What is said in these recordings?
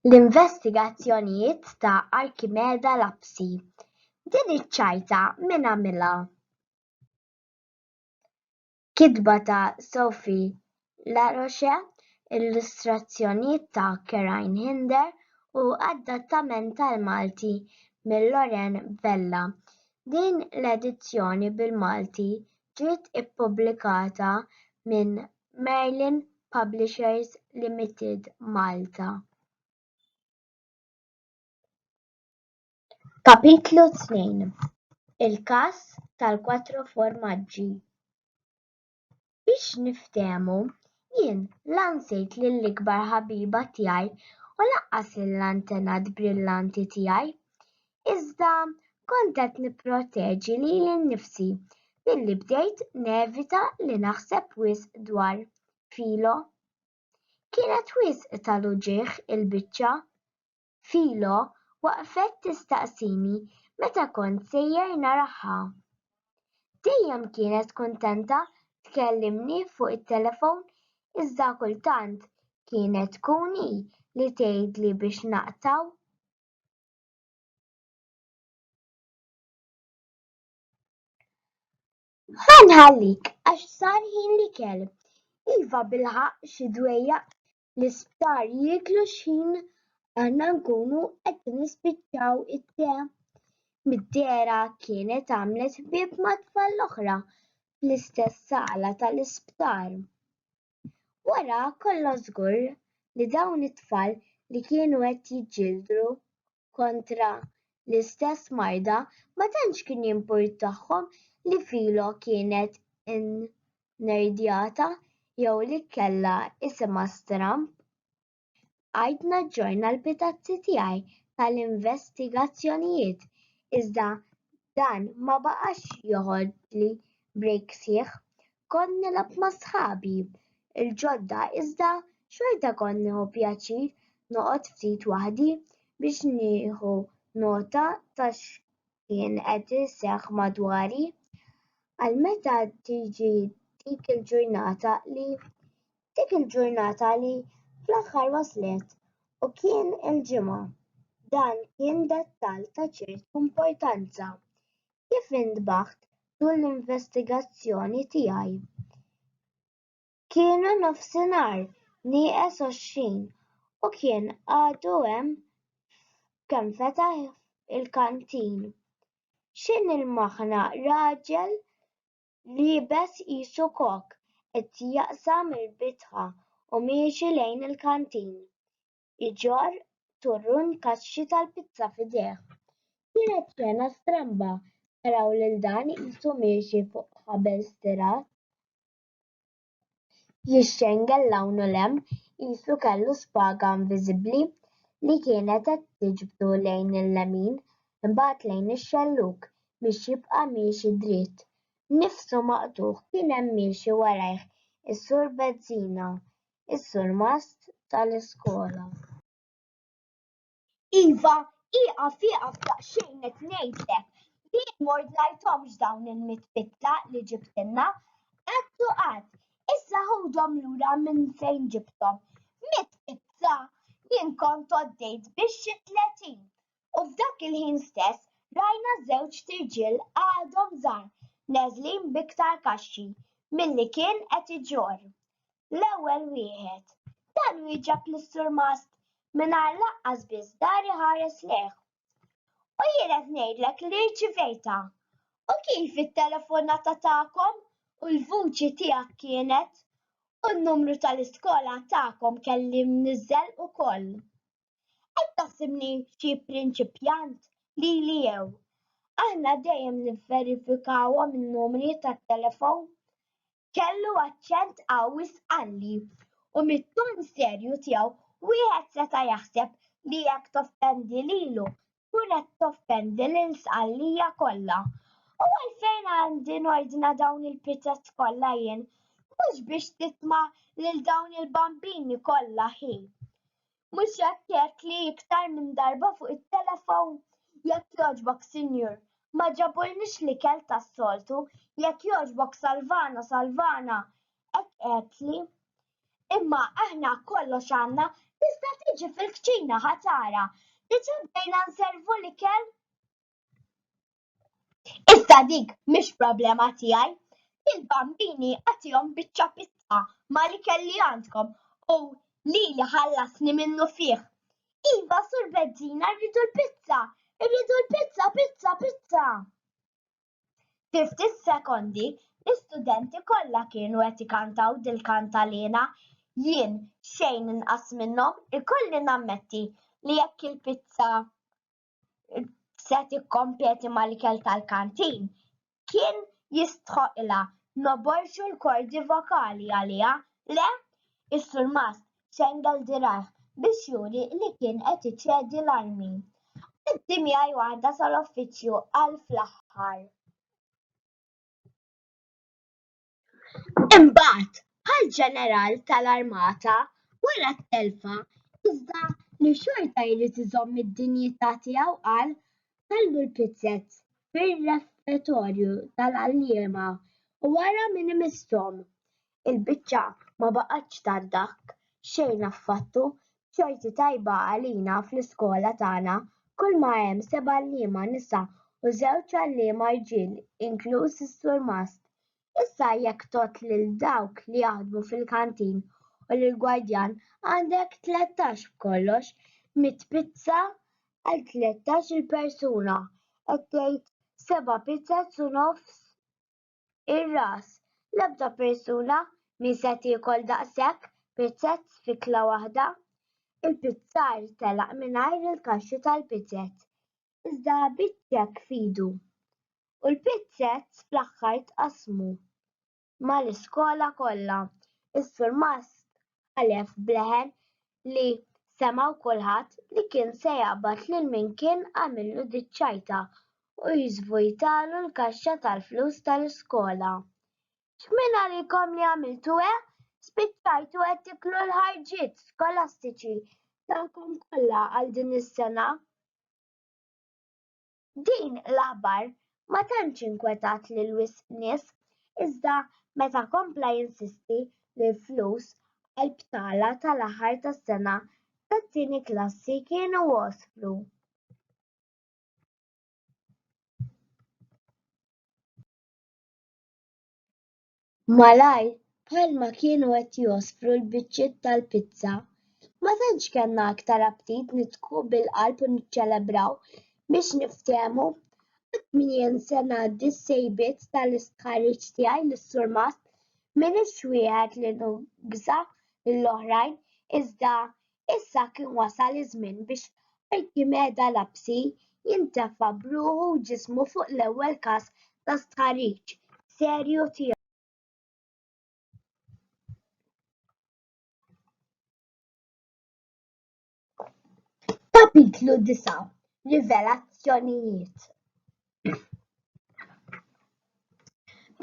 L-investigazzjonijiet ta' Archimeda Lapsi, Din iċ-ċajta min għamilha? Kitba ta' Sophie Laroche, illustrazzjonijiet ta' Kerine Hinder u adattament tal-Malti minn Loren Vella. Din l-edizzjoni bil-Malti ġiet ippubblikata minn Merlin Publishers Limited Malta. Kapitlu Tnejn Il-każ tal-Quattro Formaggi Biex niftehmu, jien la nsejt lill-ikbar ħabiba tiegħi u lanqas lill-antenat brillanti tiegħi. iżda kont qed nipproteġi lili nnifsi billi bdejt nevita li naħseb wisq dwar Filo. Kienet wisq tal-uġigħ il-biċċa. Filo waqfet tistaqsini meta kont sejjer naraha. Dejjem kienet kuntenta tkellimni fuq it-telefon iżda kultant kienet tkun hi li tgħidli biex naqtgħu. Ħa nħallik għax sar ħin l-ikel. Iva bilħaqq xi dwejjaq l-isptar jieklu x'ħin aħna nkunu qed nispiċċaw it-te. Mid-dehra kienet għamlet ħbieb mat-tfal l-oħra fl-istess sala tal-isptar. Wara kollox żgur li dawn it-tfal li kienu qed jiġġieldu kontra l-istess marda ma tantx kien jimpurtahom li Filo kienet innerdjata jew li kellha isimha stramb. Bqajt naġġorna l-pitazzi tiegħi tal-investigazzjonijiet iżda dan ma baqax joħodli break sħiħ. Kont nilgħab ma' sħabi l-ġodda iżda xorta kont nieħu pjaċir noqgħod ftit waħdi biex nieħu nota ta' kien qed iseħħ madwari, għal meta tiġi dik il-ġurnata li dik il-ġurnata li fl-aħħar waslet u kien il-ġimgħa. Dan kien dettall ta' ċertu importanza. Kif intbaħt tul l-investigazzjoni tiegħi? Kienu nofsinhar nieqes għoxrin u kien għadu hemm kemm fetaħ il-kantin. X'in il-maħna raġel liebes qisu kok qed jaqsam il-bitħa u miexi lejn il-kantin iġorr turrun kaxxi tal-pizza f'idejh. Kienet xena stramba naraw lil dan qisu miexi fuq ħabel stirat. jixxengel 'l hawn u 'l hemm qisu kellu spaga inviżibbli li kienet qed tiġbdu lejn il-lemin imbagħad lejn ix-xellug biex jibqa' miexi dritt. Nifsu maqtugħ kien hemm miexi warajh is-Sur Bezzina, is-surmast tal-iskola. Iva, ieqaf ieqaf daqsxejn qed ngħidlek. Jien m'ordnajthomx dawn il-mitt pitla li ġibtilna. Qatt u qatt. Issa ħudhom lura minn fejn ġibthom. Mitt pitla! Jien kont għoddejt biss xi tletin. U f'dak il-ħin stess rajna żewġt irġiel għadhom żgħar neżlin b'iktar kaxxi milli kien qed iġorr. l-ewwel wieħed. Dan wieġeb lis-surmast mingħajr lanqas biss dar iħares lejh. U jien qed ngħidlek li rċivejtha. U kif it-telefonata tagħkom u l-vuċi tiegħek kienet? U n-numru tal-iskola tagħkom kelli mniżżel ukoll. Qed taħsibni xi prinċipjant lili jew? Aħna dejjem nivverifikawhom in-numri tat-telefon. kellu aċċent qawwi sqalli u mit-ton serju tiegħu wieħed seta' jaħseb li jekk toffendi lilu tkun qed toffendi lil Sqallija kollha. U għalfejn għandi nordna dawn il-pizzet kollha jien? Mhux biex titma' lil dawn il-bambini kollha hi. Mhux jekk jekli iktar minn darba fuq it-telefown? Jekk jogħġbok sinjur, ma ġabulniex l-ikel tas-soltu, jekk jogħġbok salvana, salvana, hekk għedtli. Imma aħna kollox għandna, tista' tiġi fil-kċina ħa tara. Diġà bdejna nservu l-ikel? Iżda dik mhix problema tiegħi. Lill-bambini agħtihom biċċa pizza mal-ikel li għandkom u lili ħallasni minnufih. Iva, Sur Bezzina, rridu l-pizza! Irridu l-pizza, pizza, pizza! Fi ftit sekondi, l-istudenti kollha kienu qed ikantaw dil-kantalina. Jien, xejn inqas minnhom, ikolli nammetti li jekk il-pizza se tikkompeti mal-ikel tal-kantin, kien jistħoqqilha noborxu l-kordi vokali għaliha, le? Is-Surmast xengel dirgħajh biex juri li kien qed iċedi l-armi. Għaddi miegħi waħda sal-uffiċċju, qal fl-aħħar. Imbagħad, bħall-ġeneral tal-armata, wara t-telfa, iżda li xorta jrid iżomm id-dinjità tiegħu qal, Ħallu l-pizzez fir-refetorju tal-għalliema u ara min imissthom. Il-biċċa ma baqgħetx tgħaddaq xejn affattu, b'xorti tajba għalina fl-iskola tagħna kulma hemm sebgħalliema nisa u żewġ għalliema rġiel inkluż is-surmast Issa jekk tgħodd lil dawk li jaħdmu fil-kantin u lill-gwardjan għandek tlettax b'kollox mitt pizza għal tlettax-il persuna qed tgħid seba' pizzas u nofs ir-ras. L-ebda persuna m'hi se tiekol daqshekk pizzas f'ikla waħda. Il-pizzar telaq mingħajr il-kaxxi tal-pizzas. iżda biċ-ċekk f'idu, u l-pizzett fl-aħħar tqassmu mal-iskola kollha. Is-Sur Musk ħalef b'leħen li semgħu kulħadd li kien se jaqbad lil min kien għamillu diċ-ċajta u jiżvujtalu l-kaxxa tal-flus tal-iskola. X'minn għalikom li għamiltu hekk, spiċċajtu qed tiklu l-ħarġiet skolastiċi tagħkom kollha għal din is-sena? Din l-aħbar ma tantx inkwetat lil wisq nies, iżda meta kompla jinsisti li l-flus għall-btala tal-aħħar tas-sena tat-tieni klassi kienu waslu, Malajr, bħalma kienu qed jgħospru l-biċċiet tal-pizza, ma tantx kellna aktar aptit nidħku bil-qalb u niċċelebraw biex niftehmu. Qatt min jinsa ngħaddi s-sejbiet tal-istħarriġ tiegħi lis-Surmast, m'iniex wieħed li nugża lill-oħrajn, iżda Issa kien wasal iż-żmien biex Arkimeda Lapsi jintefa' b'ruħu u ġismu fuq l-ewwel każ ta' stħarriġ serju tiegħu. Kapitlu Disa', Rivelazzjonijiet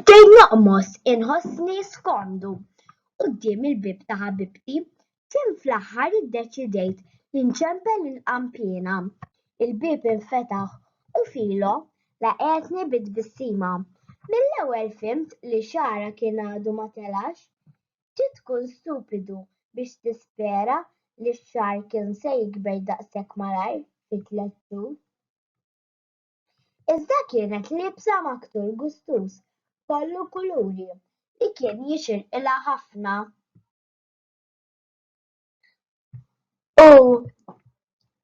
Bdejt noqmos inħossni skomdu quddiem il-bieb ta' ħabibti, Tim fl-aħħar iddeċidejt li nċempel il-qanpiena. Il-bieb infetaħ u Filo laqgħetni bi tbissima. Mill-ewwel fhimt li xagħarha kien għadu ma telax. Trid tkun stupidu biex tispera li x-xagħar kien se jikber daqshekk malajr fi tliet xhur. Iżda kienet liebsa maktur gustuż kollu kuluri li kien jixirqilha ħafna. U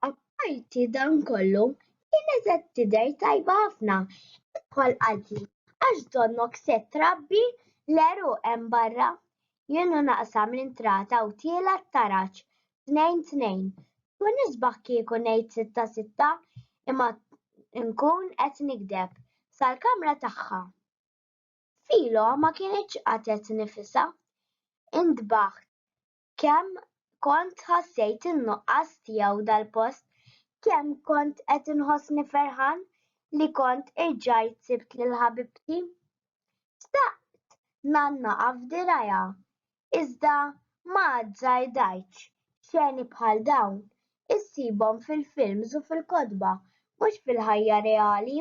apparti dan kollu, kienet qed tidher tajba ħafna. Id-tfal qaltli, għax donnok se trabbi l-għeruq hemm barra? Jien u naqsam l-intrata u tiela' t-taraġ, tnejn tnejn. Tkun isbaħ kieku ngħid sitta sitta, imma nkun qed nigdeb. Sal-kamra tagħha. Philo ma kinitx qatgħet nifisha. Intbaħt kemm kont ħassejt in-nuqqas tiegħu dal-post, kemm kont qed inħossni ferħan li kont irġajt sibt lil ħabibti. Xtaqt ngħannaqha f'dirgħajha, iżda ma azzardajtx xeni bħal dawn. Issibhom fil-films u fil-kotba, mhux fil-ħajja reali.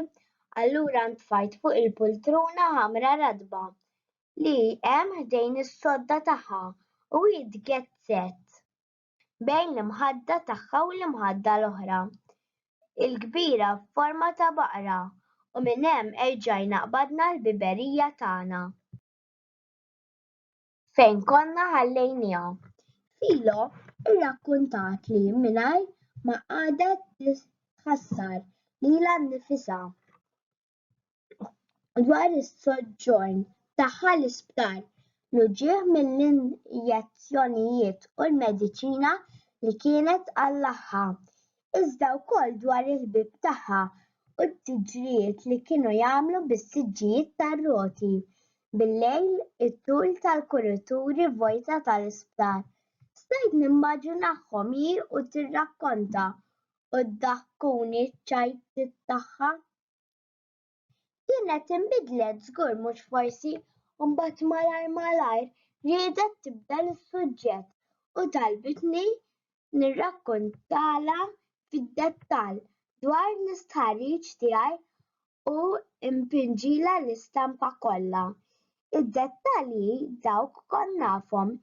Allura ntfajt fuq il-pultruna ħamra ratba li hemm ħdejn is-sodda tagħha u hi tgezzet bejn l-imħadda tagħha u l-imħadda l-oħra, il-kbira f'forma ta' baqra, u minn hemm erġajna qbadna l-biberija tagħna. fejn konna ħallejniha. Filo irrakkuntat li mingħajr ma qagħdet tħassar lilha nnifisha dwar is-soġġorn tagħha l-isptar, l-uġigħ mill-injezzjonijiet u l-mediċina li kienet għal laħħha. iżda wkoll dwar il-ħbieb tagħha u t-tiġrijiet li kienu jagħmlu bis-siġġijiet tar-roti bil-lejl it-tul tal-kurituri vojta tal-isptar. Stajt nimmaġinahom hi u tirrakkonta u ddaħkuni ċ-ċajtiet tagħha. kienet inbidlet żgur mhux forsi u mbagħad malajr malajr riedet tibdel is-suġġett u talbitni nirrakkontalha fid-dettall dwar l-istħarriġ tiegħi u npinġilha l-istampa kollha. Id-dettalji dawk kont nafhom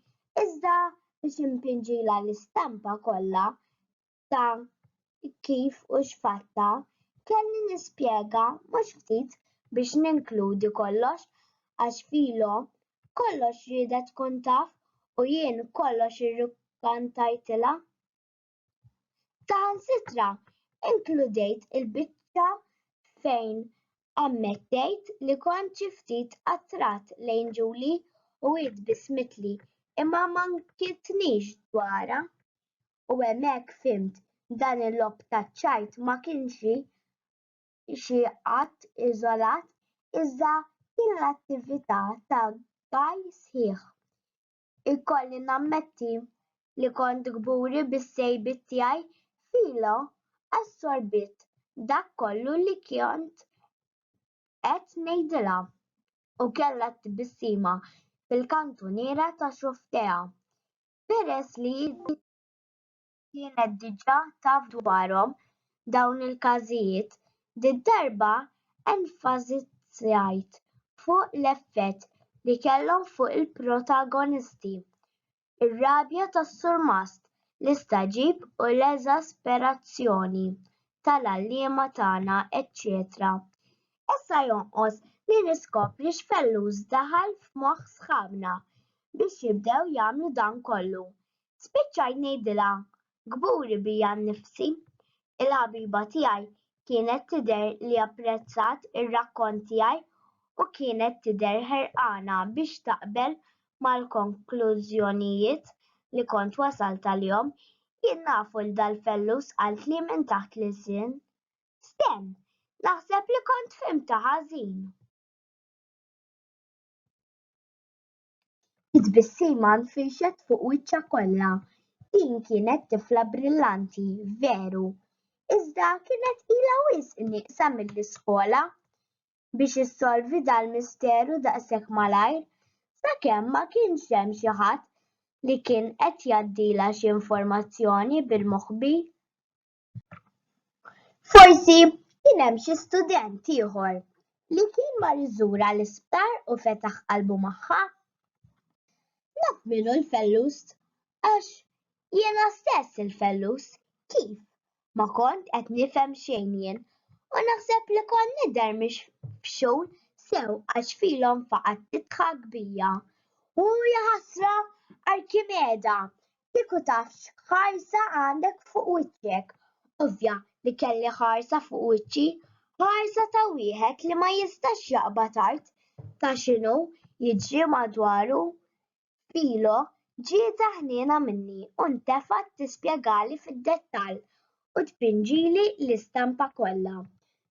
iżda biex inpinġilha l-istampa kollha ta' kif u x'fatta, kelli nispjega mhux ftit biex ninkludi kollox għax Filo kollox riedha tkun taf u jien kollox irrukkantajtilha. Saħansitra inkludejt il-biċċa fejn ammettejt li kont xi ftit attrat lejn Ġuli u hi tbissmitli imma ma nkitnix dwarha. u hemmhekk fhimt dan il-logħob taċ-ċajt ma kienx xi att iżolat iżda kien l-attività ta' għaj sħiħ. Ikolli nammetti li kont kburi bis-sejbiet tiegħi, Philo assorbiet dak kollu li kont qed ngħidilha u kellha t-tbissima fil-kantuniera ta' xufftejha. Peress li din kienet diġà taf dwarhom dawn il-każijiet, did-darba enfasizzajt fuq l-effett li kellhom fuq il-protagonisti, ir-rabja tas-surmast, l-istagħġib u l-eżasperazzjoni tal-għalliema tagħna eċċetera Issa jonqos li niskopri x'fellus daħal f'moħħ sħabna biex jibdew jagħmlu dan kollu. Spiċċajt ngħidilha, Kburi bija nnifsi. Il-ħabiba tiegħi kienet tidher li apprezzat ir-rakkont tiegħi u kienet tidher ħerqana biex taqbel mal-konklużjonijiet li kont wasalt għalihom. Jien nafu li dal-fellus qaltli minn taħt l-ilsien. Stem, naħseb li kont fhimtha ħażin. It-tbissima nfirxet fuq wiċċha kollha. Din kienet tifla brillanti, veru. Iżda kienet ilha wisq nieqsa mill-iskola biex issolvi dal-misteru daqshekk malajr, sakemm ma kienx hemm xi ħadd li kien qed jgħaddilha xi informazzjoni bil-moħbi. Forsi kien hemm xi student ieħor li kien mar iżurha l-isptar u fetaħ qalbu magħha. Naf min hu l-fellus għax jiena stess il-fellus. Kif? Ma kont qed nifhem xejn jien u naħseb li kont nidher mhix f'xogħol sew għax filhom faqgħet tidħak bija. Hu jaħasra Arkimeda Kieku taf x'ħarsa għandek fuq wiċċek. Ovvja li kelli ħarsa fuq wiċċi, ħarsa ta' wieħed li ma jistax jaqbad art. Ta' x'inhu jiġri madwaru. Philo ġietha ħniena minni u ntefgħet tispjegali fid-dettall u tpinġili l-istampa kollha.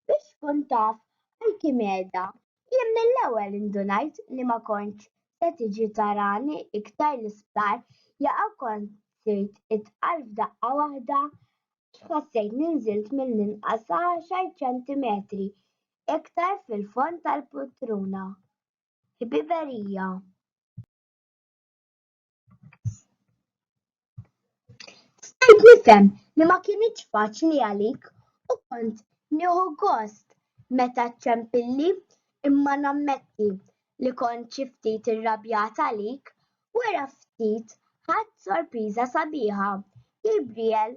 Biex tkun taf għal kim qiegħda Jien mill-ewwel indunajt li ma kontx se tiġi tarani iktar l-isptar jaqa' kont sirt itqal f'daqqa waħda għax ħassejt li nżilt mill-inqas għaxar ċentimetri iktar fil-fond tal-pultruna. Ħbiberija. Stajt nifhem li ma kinitx faċli għalik u kont nieħu gost meta ċċempilli imma nammetti li kont xi ftit irrabjat għalik wara ftit ħadt sorpriża sabiħa, Gabriel,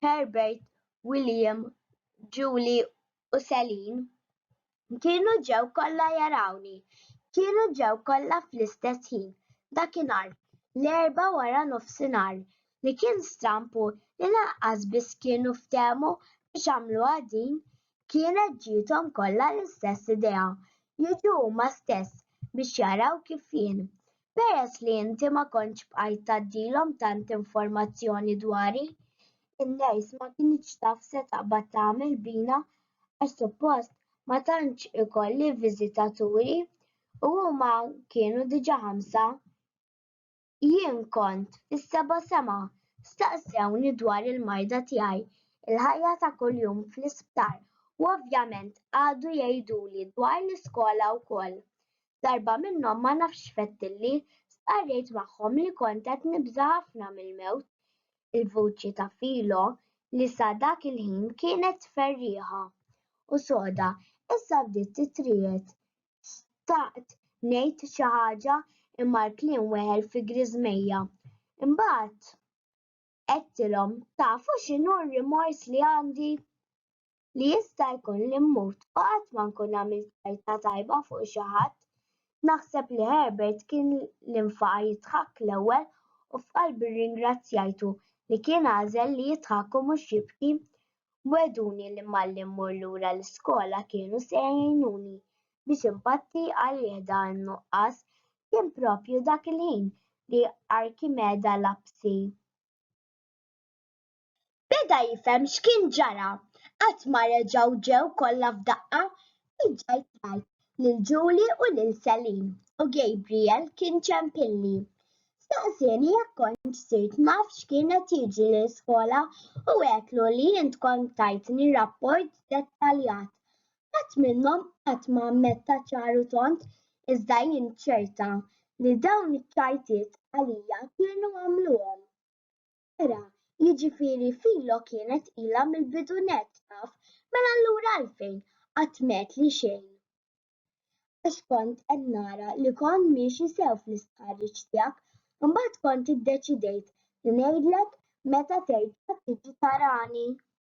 Herbert, William, Julie u Selin. Kienu ġew kollha jarawni. Kienu ġew kollha fl-istess ħin, dakinhar, l-Erbgħa wara nofsinhar. Li kien stramb hu li lanqas biss kienu ftehmu biex għamluha din, kienet ġiethom kollha l-istess idea, jiġu huma stess biex jaraw kif jien, peress li inti ma kontx bqajt tgħaddilhom tant informazzjoni dwari, in-nurse ma kinitx taf se taqbad tagħmel bina għax suppost ma tantx ikolli viżitaturi u huma kienu diġà ħamsa. Jien kont fis-seba' sema. Staqsewni dwar il-marda tiegħi, il-ħajja ta' kuljum fl-isptar u ovvjament qagħdu jgħiduli dwar l-iskola wkoll. Darba minnhom ma nafx x'fettilli, stqarrejt magħhom li kont qed nibża' ħafna mill-mewt. il-vuċi ta' Philo li sa dak il-ħin kienet ferrieħa u soda issa bdiet titriegħed. Xtaqt ngħid xi ħaġa imma l-kliem weħel fi griżmejja. Imbagħad għedtilhom, tafu x'inhu r-rimors li għandi? li jista' jkun li mmut u qatt ma nkun għamilt karta tajba fuq xi ħadd. Naħseb li Herbert kien li nfaqa' jidħak l-ewwel u f'qalbi rringrazzjajtu li kien għażel li jidħak u mhux jibki. Wegħduni li malli mmur lura l-iskola kienu se jgħinuni biex inpatti għalih dan in-nuqqas. Kien proprju dak il-ħin li Arkimeda Lapsi. Beda jifhem x'kien ġara. Qatt ma reġgħu ġew kollha f'daqqa. Reġgħet rajt lil Ġuli u lil Selin u Gabriel kien ċempilli. Staqsieni jekk kontx sirt naf x'kien qed jiġri l-iskola u għedtlu li int kont tajtni rapport dettaljat. Ħadd minnhom qatt ma ammetta ċar u tond iżda jien ċerta li dawn iċ-ċajtiet għalija kienu għamluhom. Vera, jiġifieri Filo kienet ilha mill-bidu nett taf, mela allura għalfejn qatt m'għedtli xejn? Għax kont qed nara li kont miexi sew fl-istħarriġ tiegħek, imbagħad kont iddeċidejt li ngħidlek meta terġa' tiġi tarani.